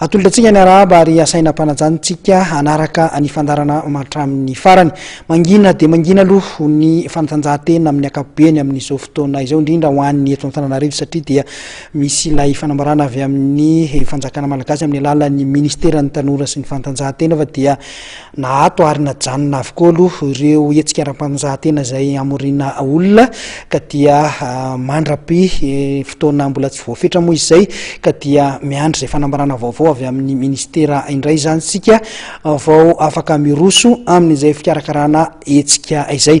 Atolotra antsika ny arahaba ary asaina ampananjanontsika hanaraka ny fandarana matramin'ny farany. Mangina dia mangina aloha ny fanatanjahantena amin'ny ankapobeny amin'izao fotoana izao indrindra ho an'ny eto Antananarivo satria dia misy ilay fanambarana avy amin'ny fanjakana malagasy amin'ny alalan'ny ministeran'ny tanora sy ny fanatanjahantena fa dia Na ato ary na janona avokoa aloha ireo hetsika ara-panonjahan-tena izay hamoriana olona ka dia mandra-pi fotoana mbola tsy voafetra moa izay ka dia miandry izay fanambarana vaovao avy amin'ny ministera indray izany isika vao afaka miroso amin'izay fikarakarana hetsika izay.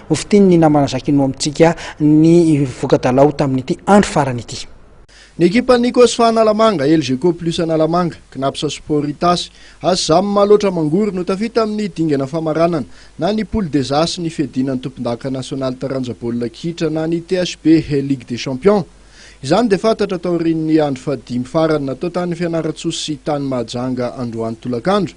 Ho fitin' ny namana Jacquinot amintsika ny voka-dalao tamin' ity andro farany ity. Ny ekipan' ny Cosfa Analamanga, Elgeco Plus Analamanga, Cnaps Sport Itasy, Asjam Malotra Mangory no tafita amin' ny dingana famaranana na ny Poule des As ny fiadiana ny tompondaka nasionaly taranja baolina kitra na ny THB He Ligue des Champions. Izany dia fantatra taorian' ny andro fahadimy farany natao tany Fianarantsoa sy tany Mahajanga androany tolakandro.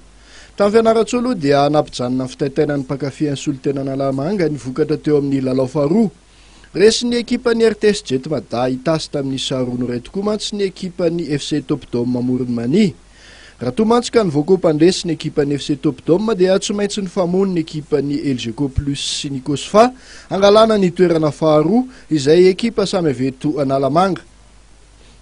Tamin'ny Fianarantsoa aloha dia nampijanona ny fitaitainan'ny mpankafy an'i Solontena Analamanga ny vokatra teo amin'ny lalao faharoa. Resin'ny ekipan'ny RTS Jet Mada Itasy tamin'ny sary roa noray tokoa mantsy ny ekipan'ny FC Top Dome Amoron'i Mania. Raha toa mantsy ka ny voco mpandresy ny ekipan'ny FC Top Dome dia tsy maintsy nifamono ny ekipan'ny Elgeco Plus sy ny Cosfa hangalana ny toerana faharoa izay ekipa samy avy eto Analamanga.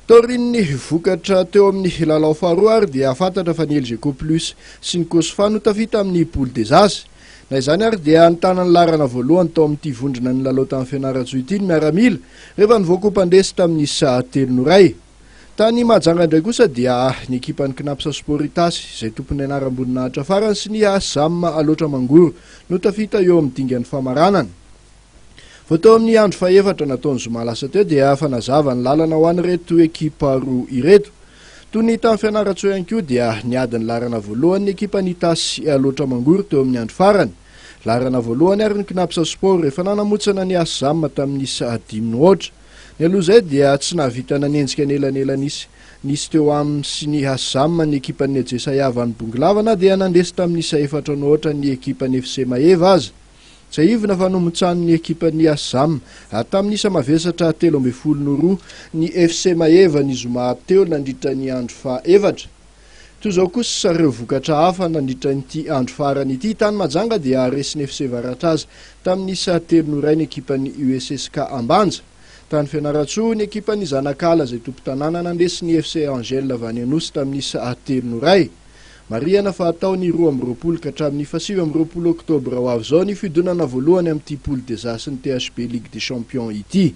Taorian'ny vokatra teo amin'ny lalao faharoa ary dia fantatra fa ny Elgeco Plus sy ny Cosfa no tafita amin'ny Poule des As. Na izany ary dia nitana ny laharana voalohany tao amin'ity vondrona nilalao tany Fianarantsoa ity ny miaramila rehefa nivoaka ho mpandresy tamin'ny isa telo no iray. Tany Mahajanga indray kosa dia ny ekipan'ny Cnaps Sport Itasy izay tompon'ny anaram-boninahitra farany sy ny Asam Alaotra Mangoro no tafita eo amin'ny dingan'ny famaranana. Vao teo amin'ny andro fahefatra nataony zoma lasa teo dia efa nazava ny lalana ho an'ireto ekipa roa ireto. Toy ny tany Fianarantsoa ihany koa dia niady ny laharana voalohany ny ekipan'Itasy Alaotra Mangoro teo amin'ny andro farany. Laharana voalohany ary ny Cnaps Sport efa nanamotsana ny Asm tamin'ny isa dimy noaotra. Nialoha izay dia tsy nahavita nanenjika anelanelan'isa nisy teo aminy sy ny Asm ny ekipan'ny Ejesayavan'i Bongolava na dia nandresy tamin'ny isa efatra noaotra ny ekipan'ny FC Maeva aza. Tsiahivina fa nomotsanin'ny ekipan'ny Assam tamin'ny isa mavesatra telo ambin'ny folo no roa ny FC Maeva ny zoma teo nandritra ny andro faha efatra. Toy izao kosa ireo vokatra hafa nandritra ity andro farany ity. Tany Mahajanga dia resin'ny FC Varatraza tamin'ny isa telo no iray ny ekipan'ny USSK Ambanja. Tany Fianarantsoa ny ekipan'ny Zanakala izay tompon-tanàna nandresy ny FC Angel Vanyanosy tamin'ny isa telo no iray. Marihana fa hatao ny roa amby roapolo ka hatramin'ny fahasivy amby roapolo oktobra ho avy izao ny fiodonana voalohany amin'ity Poule des As-n'ny THB Ligue des Champions ity.